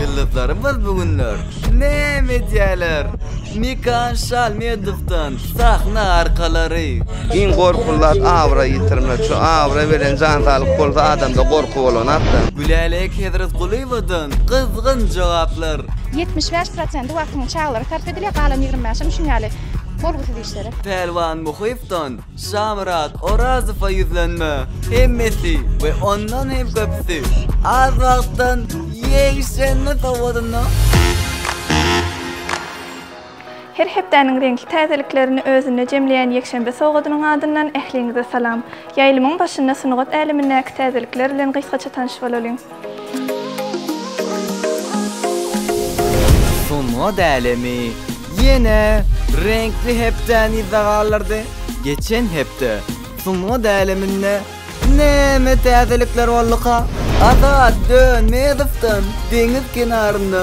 Ýyldyzlarymyz bu günler näme edýärler? Mekan Şalmedowdan sahna arkalary. Iň gorkuly zat abraý ýitirmek. Şu abraý bilen jan saglyk bolsa adamda gorky bolanok-da. Gülälek Hezretgulyýewadan gyzgyn jogaplar. Ýetmiş bäş prosenti wagtyň çagalara sarp edilýär, galan ýigrimi bäşem şuny ýaly bolgusyz iş. Şeref. Pälwan Muhypdan Şamyrat Orazowa ýüzlenme. Hemmesi we ondan hem köpüsi az wagtdan ýegşenme sowadynda. Her hepdäniň reňkli täzeliklerini özünde jemleýän ýekşenbe sowadynyň adyndan ähliňize salam! Ýaýlymyň başynda sungat älemindäki täzelikler bilen gysgaça tanyş bolalyň! Sungat älemi ýene reňkli hepdäni yza galdyrdy. Geçen hepde sungat äleminde näme täzelikler bolduka? Azat Dönmezowdan deňiz kenarynda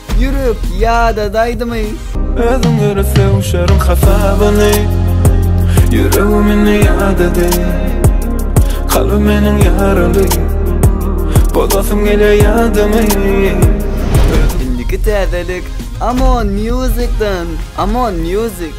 Ýürek ýada daýdymy? Özüň ýöre sögüşeriň hasabyny Ýüregimini ýadady Kalby meniň ýaraly Bozasym gelýär ýadymy Indiki täzelik Amon Music-dan Amon Music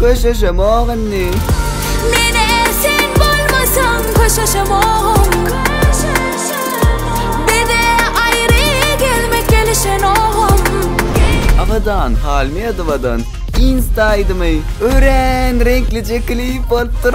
Köşeşemok indi. Abadan Halmedowadan Insta aýdymy örän reňklije klip bolupdyr.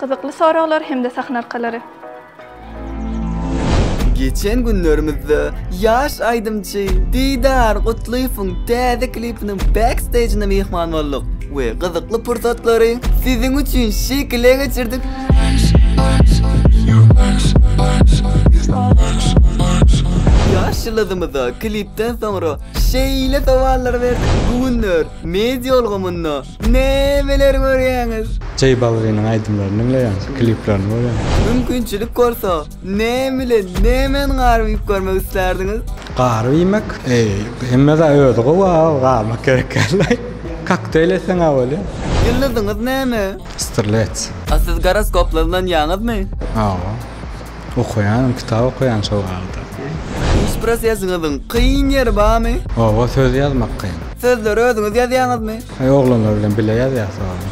Gyzykly soraglar hem-de sahna arkalary. Geçen günlerimizde ýaş aýdymçy Didar Gutlyýewiň täze klipiniň backstejine myhman bolduk we gyzykly pursatlary siziň üçin şekile geçirdik. Ýaş ýyldyzymyza klipden soňra şeýle sowallar berdik, Bu günler media ulgamynda Nämeler görýäňiz? Jay Balviniň aýdymlaryny diňleýän, kliplerini görýän. Mümkinçilik bolsa, näme bilen, nämeni garyp iýip görmek islärdiňiz? Garyp iýmek? Eý, hemme-de özi gowy-a, garymak gerek däl-de. Kokteýl etseň-ä bolýa. Ýyldyzyňyz näme? Strlets. A siz goroskoplara ynanýaňyzmy? Hawa. Okaýanym kitap okaýan şo wagta. Iş prosesinizin kyn ýeri barmy? Oba söz ýazmak kyn. Sözleri özüňiz ýazýaňyzmy? Aý oglanlar bilen bile ýazýas soňam.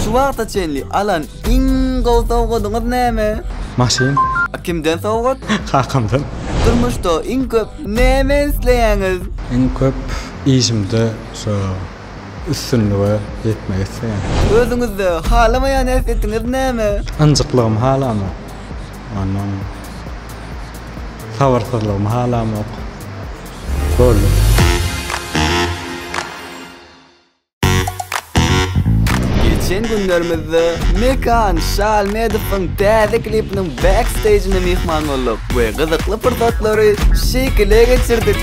Şu wagta çenli alan iň gowy sowgadyňyz näme? Maşyn. A kimden sowgat? Kakamdan. Durmuşda iň köp näme isleýäňiz? Iň köp işimde şo. Üstünlige ýetmek isleýän. Özüňizde halamaýan häsiýetiňiz näme? Ynjyklygymy halamok. Ondan sabyrsyzlygymy halamok. Boldy. Geçen günlerimizde Mekan Şalmedowyň täze klipiniň backstage'ine myhman bolduk we gyzykly pursatlary şekile geçirdik.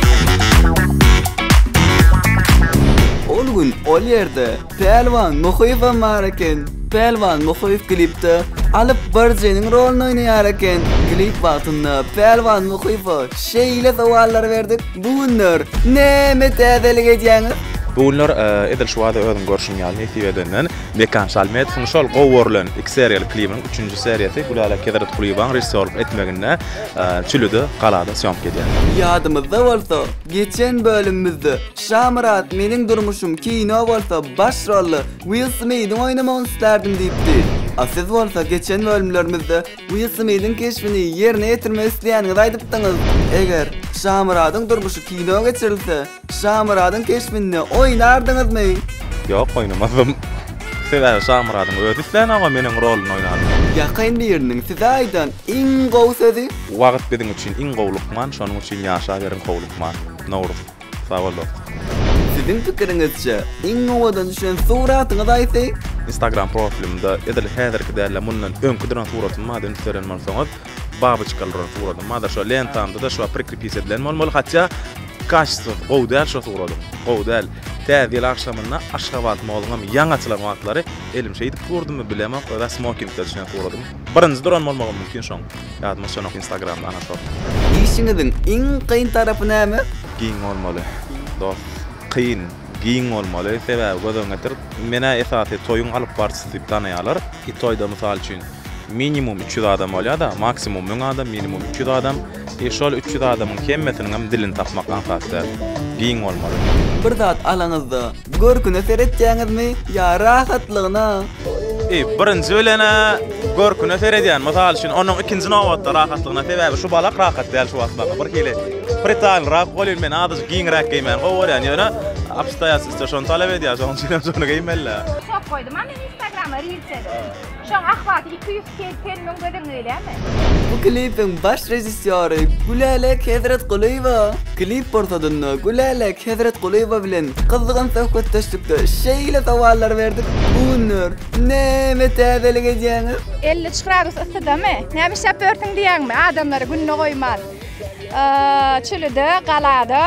Ol gün ol ýerde Pälwan Muhyýewem bar eken. Pälwan Muhyýew klipde Alyp baryjynyň roluny oýnaýar eken. Klip wagtynda Pälwan Muhyýewe şeýle sowallar berdik, Bu günler näme täzelik edýäňiz? Bu günler edil şu bada özüň görşüň ýaly nesip edenden Mekan Şalmedowyň şol gowy görlen iki seriýaly klibiniň üçünji seriýasy Gülälek Hezretgulyýewanyň režissýorlyk etmeginde Çilide galada sýomka edýär. Ýadymyzda bolsa, Geçen bölümimizde Şamyrat Meniň durmuşym kino bolsa baş rolda Will Smidiň oýnamagyny islärdim diýipdi. A siz bolsa geçen bölümlerimizde Will Smidiň keşbini ýerine ýetirmek isleýäniňizi aýdypdyňyz. Eger Şamyradyň durmuşy kino geçirilse, Şamyradyň keşbinde oýnardyňyzmy? Ýok, oýnamazdym. Sebäbi Şamyradyň özi islänokam meniň rolunda oýnasyn. Ýakyn biriniň size aýdan iň gowy sözi? Bu wagyt biziň üçin iň gowy lukman şonuň üçin ýaşaberiň gowy lukman. Nowruz. Sagbol dost. Siziň pikiriňizçe iň owadan düşen suratyňyz haýsy? Instagram profilimde edil häzirki däl-de mundan öňki duran suratym bardy üns beren bolsaňyz babyçka duran suratym bardy şo lentamda-da şo prikrepis edilen bolmaly hatýa kaştysy gowy däl şo suratyň gowy däl Täze ýyl agşamyna Aşgabat moluňam ýaňy açylan wagtlary elim şeýdip durdymy bilemok öza smokingde düşen suratym birinji duran bolmagym mümkin şoň. Ýadyma düşenok instagramda anatomy. Işiňiziň iň kyn tarapy näme? Giň bolmaly. Dos. Kyn, giň bolmaly. Sebäbi göz öňüňe getir. Menä esasy toýuň alyp barçysy diýip tanaýarlar. Bir toýda mysal üçin minimum üç ýüz adam bolýar-da, maksimum müň adam, minimum üç ýüz adam. E şol üç ýüz adamyň hemmesiniňem dilini tapmak aňsat däl. Giň bolmaly. Bir zat alaňyzda Görküne seretýäňizmi ýa rahatlygyna? Eý, birinji bilen-ä görküne seredýän, mysal üçin, onuň ikinji nobatda rahatlygyna, sebäbi şu balak rahat däl şu wagt maňa, birhili pritalnyrak bolýun, men azajyk giňräk geýmäni gowy görýän, ýöne obstoýatsnostýa şony talap edýär, şonuň üçinem şony geýmeli-dä. Sok goýdum-a men Instagrama rilsleri. Şoň ahwaty iki ýüz segsen müň göz öňüne gelýärmi? Bu klipiň baş režissýory Gülälek Hezretgulyýewa. Klip pursadynda Gülälek Hezretgulyýewa bilen gyzgyn söhbetdeşlikde şeýle sowallar berdik, Bu günler näme täzelik edýäňiz? Elli üç gradus yssydamy? Näme işläp ýörsüň diýýäňmi? Adamlary gününe goýman. Çölde, galada.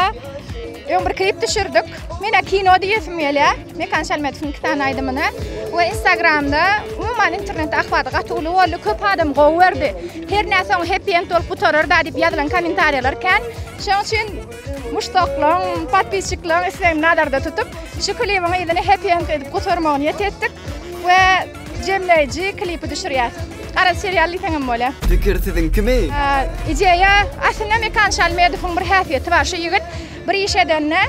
Öň bir klip düşürdik. Mena kino diýesim gelýär. Mekan Şalmetowyň iki sany aýdymyny we Instagramda umuman internetde ahwaty gaty uly boldy. Köp adam gowy gördi. Her näme soň happy end bolup gutarar da diýip ýazylan kommentariýalar kän. Şoň üçin muşdaklaryň, podpisçikleriň islegini nazarda tutup, şu klibiň yzyny happy end edip gutarmagy niýet etdik we jemleýji klipi düşürýäs. Garaz serial diýseň hem bolýa. Pikir siziňkimi? Ideýa aslynda Mekan Şalmetowyň bir häsiýeti bar. Şu ýigit Bir iş edende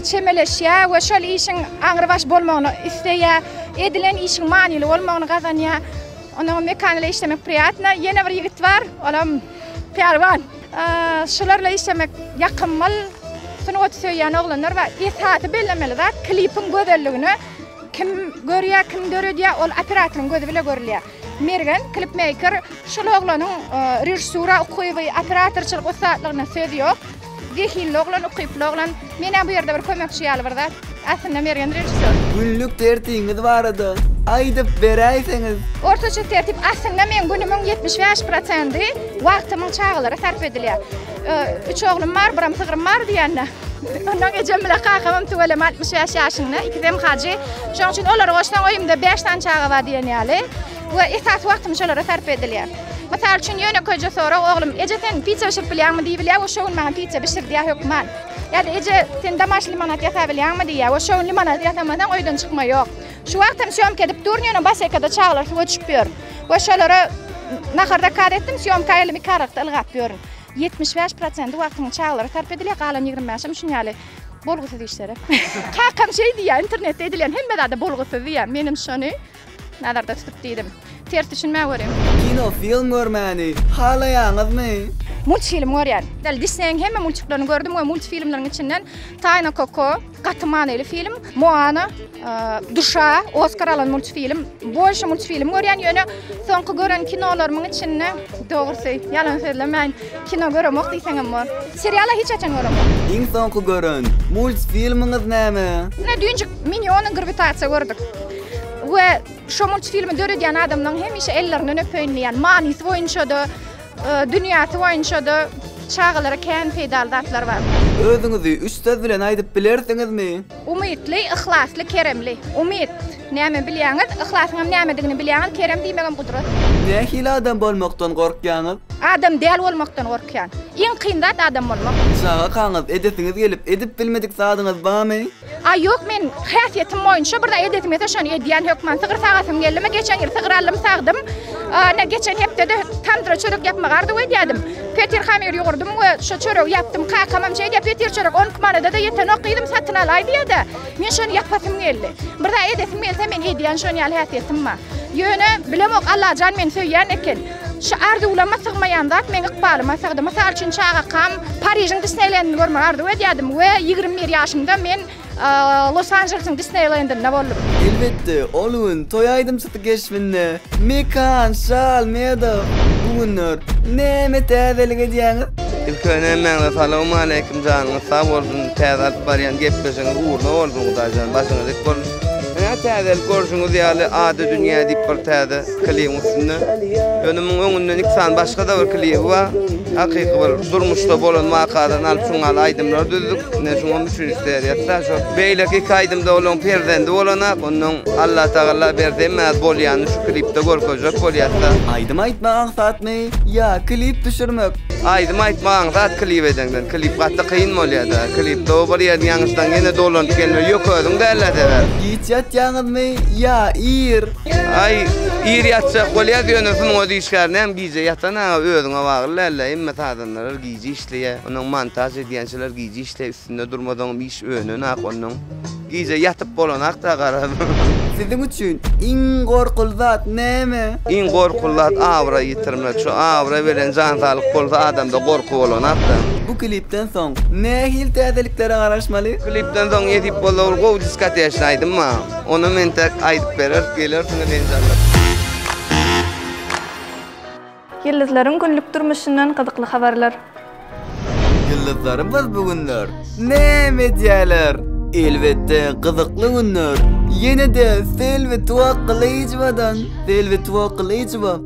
çemeleşýär we şol işiň aňrybaş bolmagyny isleýär. Edilen işiň manyly bolmagyny gazanýar. Onuň mekanyle işlemek priýatno. Ýene bir ýigit bar, olam pälwan. Şularla işlemek ýakymyl. Sungaty söýýän oglanlar bar. Esasy bellemeli zat, klipiň gözelligini kim görýär, kim döredýär, ol operatoryň gözi bile görülýär. Mergen klipmeýker şul oglanyň režissura ukyby, operatorçylyk ussatlygyna söz ýok. Zehinli oglan, ukyply oglan. Menem bu ýerde bir kömekçi ýaly bir zat. Aslynda Mergen režissýor. Günlük tertiňiz barada aýdyp beräýseňiz. Ortaça tertip, aslynda meň günümiň ýetmiş bäş prosendi wagtymyň çagalara sarp edilýär. Üç oglum bar, biram sygrym bar diýende. Ondan ejem bilen kakamam tüweleme 65 ýaşynda, ikisem hajy. Şonuň üçin olary goşsaň öýümde 5 sany çaga bar diýen ýaly we esasy wagtym şolara sarp edilýär. Mysal üçin ýönekeýje sorag, oglum, eje sen piçe bişirip bilýäňmi diýip bilýär we şo gün maňa piçe bişirdýär hökman. Ýa-da eje sen damaş limonad ýasap bilýäňmi diýýär we şo gün limonad ýasamasaň öýden çykma ýok. Şu wagt hem sýomka edip durun, ýöne baş ekede çagalar suwa düşüp ýör we şolara nahar zakaz etdim, sýomka elimi iki aralykda ylgap ýörün. Ýetmiş bäş prosenti wagtyňy çagalara sarp edilýär, galan ýigrimi bäşem şun ýaly bolgusyz işlere. Kakam şeý diýýär, internetde edilen hemme zada bolgusyz diýýär, menem şony nazarda tutup diýdim. Ters düşünmän görüň. Kino film görmäni halaýaňyzmy? Multfilm görýän. Däli Disneýiň hemme multiklaryny gördüm we multfilmleriň içinden Taýna Koko. Gaty manyly film. Moana, Duşa, Oskar alan multfilm. Bolşa multfilm görýän, ýöne soňky gören kinolarymyň içinde dogrusy, ýalan sözlemäýin, kino göremok diýseň hem bor. Seriala hiç haçan göremok. Iň soňky gören multfilmiňiz näme? Ine düýnjik Miniony grwitasiýa gördük. We şo multfilmi döredýän adamlaryň hemişe ellerinden öpeýin diýýän. Manysy boýunça-da, Dünýäsi boýunça-da çagalara kän peýdaly zatlar bar. Özüňizi üç söz bilen aýdyp bilersiňizmi? Umytly, yhlasly, keremli. Umyt, näme bilýäňiz? Yhlasyňam nämedigini bilýäňiz, kerem diýmegem gudrat. Nähili adam bolmakdan gorkýaňyz? Adam däl bolmakdan gorkýan. Iň kyn zat adam bolmak. Çagakaňyz edesiňiz gelip edip bilmedik zadyňyz barmy? Aý ýok men häsiýetim boýunça bir zat edesim gelse şony edýän hökman sygyr sagasym geldimi geçen ýyl sygyr aldym sagdym ene geçen hepdede tamdyra çörek ýapmagy arzuw edýädim petir hamyr ýugurdym we şo çöregi ýapdym kakamam şeýdýä petir çörek on iki manadada ýetenok gyzym satyn alaý diýýädä men şony ýapasym geldi bir zat edesim gelse men edýän şony ýaly häsiýetim bar ýöne bilemok allajan meni söýýän eken Şu arzuwlaryma sygmaýan zat meň ykbalyma sygdy. Mysal üçin, çagakam Parižiň Disneýlendini görmegi arzuw edýärdim we ýigrimi bir ýaşymda men Los-Anželesiň Disneýlendinde boldum. Elbetde, ol gün toý aýdymçysy keşbinde Mekan, Şal, Medo bu günler näme täzelik edýäňiz? Ilki bilen hemmäňize salawmaleýkim janyňyz sag bolsun täze alyp barýan gepleşigiňiz ugruna bolsun Hudaýjan başyňyz dik bolsun. Ynha täzelik görşüňiz ýaly ady dünýä diýip bir täze. Klibiň üstünde önümiň öňünden iki sany başga-da bir klibi bar. Hakyky bir durmuşda bolan wakadan alyp şuň ýaly aýdymlar düzdük. Ine şuňam üçünji seriýasy-da şo. Beýleki iki aýdymda olaň perzendi bolanak. Onnoň Allatagalla berse hemmäz bolýany şu klipde görkezjek bolýas-da. Aýdym aýtmak aňsatmy ýa klip düşürmek? Aýdym aýtmak aňsat klip edeňden. Klip gaty kyn bolýa-da. Klipde o bir ýerini ýaňyşsaň ýene dolanyp gelmeli. Ýok özüň däl-ä sebäp. Giç ýatýaňyzmy ýa ir? Aý, ir ýatjak bolýas, ýöne şunuň özi işgärine hem gije ýatan aga özüňe bagly däl-le, hemme sazandalar gije işleýär, onuň montaž edýänçiler gije işleýär, üstünde durmasaňam iş önenak onuň. Gije ýatyp bolanak-da garaz. Siziň üçin iň gorkuly zat näme? Iň gorkuly zat abraý ýitirmek. Şu abraý bilen jan saglyk bolsa adamda gorky bolanak-da. Bu klipden soň nähili täzeliklere garaşmaly? Klipden soň nesip bolsa bir gowy diskotejny aýdym bar. Ony men täk aýdyp berer, gelersiňiz enjamlap. Ýyldyzlaryň günlük durmuşyndan gyzykly habarlar. Ýyldyzlarymyz bu günler näme edýärler? Elbetde, gyzykly günler. Ýene-de Selbi Tuwakgylyjowadan. Selbi Tuwakgylyjowa.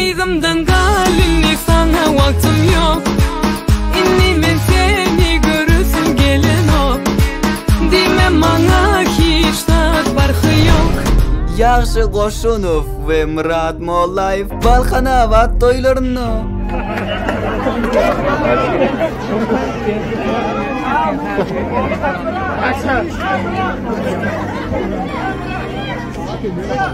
Yzymdan gal indi saňa wagtym ýok Indi men seni göresim gelenok Diýme maňa hiç zat barhy ýok Ýagşy Goşunow we Myrat Mollaýew Balkanabat toýlarynda.